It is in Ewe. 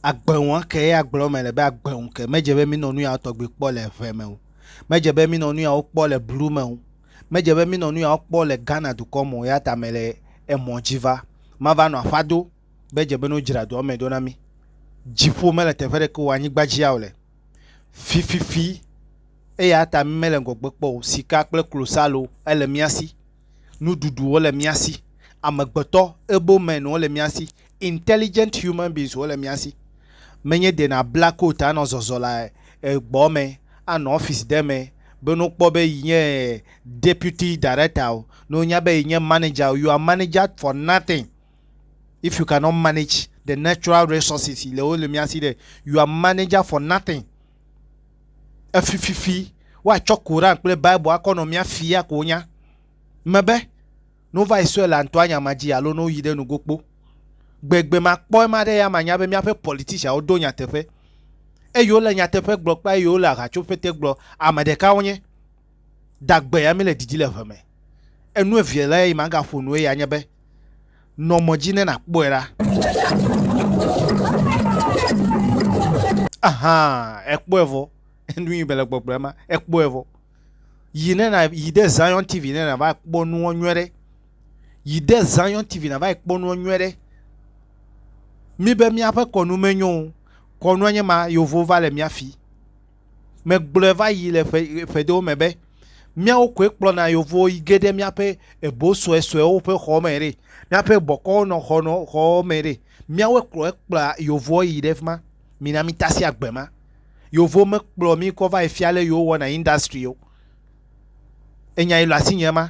Agbeŋu ke ya gblɔ me le be agbeŋu ke medze be minɔ nu yawo tɔgbi kpɔ le ʋe me o. Medze be minɔ nu yawo kpɔ le blu me o. Medze be minɔ nu yawo kpɔ le Ghana dukɔ me o ya ta mele emɔ dzi va. Mava nɔ aƒa do be dze be no dzra dua me ɖo na mi. Dziƒo mele teƒe ɖeke o anyigba dzi ya wole fififi. Eya ta mímele ŋgɔgbe kpɔ o. Sika kple klosalo, ele mía si. Nuɖuɖuwo le mía si. Amegbetɔ, able men, wole mía si. Intelligent human beings wole mía si. Menye de nàbla coat anɔ zɔzɔ le gbɔ me, anɔ office ɖe me be ne wokpɔ be yi nye deputy director o, ne wonya be yi nye manager o, you are manager for nothing if you cannot manage the natural resources yi le wole mía si ɖe, you are manager for nothing. Efififi woatsɔ Koran kple Bible akɔ nɔ mía fia ko wonya. Mebe, ne wova yi sue le antɔa nya ma dzi alo ne woyi ɖe nugo kpo. Gbegbe makpɔ ema ɖe ya manya be míaƒe politicianwo do nyateƒe. Eye wole nyateƒe gblɔ kple eye wole ahatsoƒete gblɔ, ame ɖeka wonye. Dagbea mele didi le ŋe me. Enu evea le yi magaƒo nu eya nye be, nɔ mɔ dzi ne nàkpɔe ɖa. Aha, èkpɔe vɔ. Enu yi mele gbɔgblɔ ema, èkpɔe vɔ. Yi ne na yi ɖe Zion TV ne nava kpɔ nuwo nyuie ɖe. Yi ɖe Zion TV nava kpɔ nuwo nyuie ɖe. Míbe míaƒe kɔnu menyo o. Kɔnua nye ma, yewo va le mía fi. megblɔe va yi le ƒe ƒe ɖewo me be míawo koe kplɔna yevuwo yi ge ɖe míaƒe ebo suesuewo ƒe xɔ me ɖe míaƒe bɔkɔwo nɔ xɔ nɔ xɔwo me ɖe míawoe kplɔe kplɔa yevuwo yi ɖe fi ma mina mitasi agbe ma yevuwo mekplɔ mi kɔ va yi fia ale yewowɔna industry o enyae le asinye ma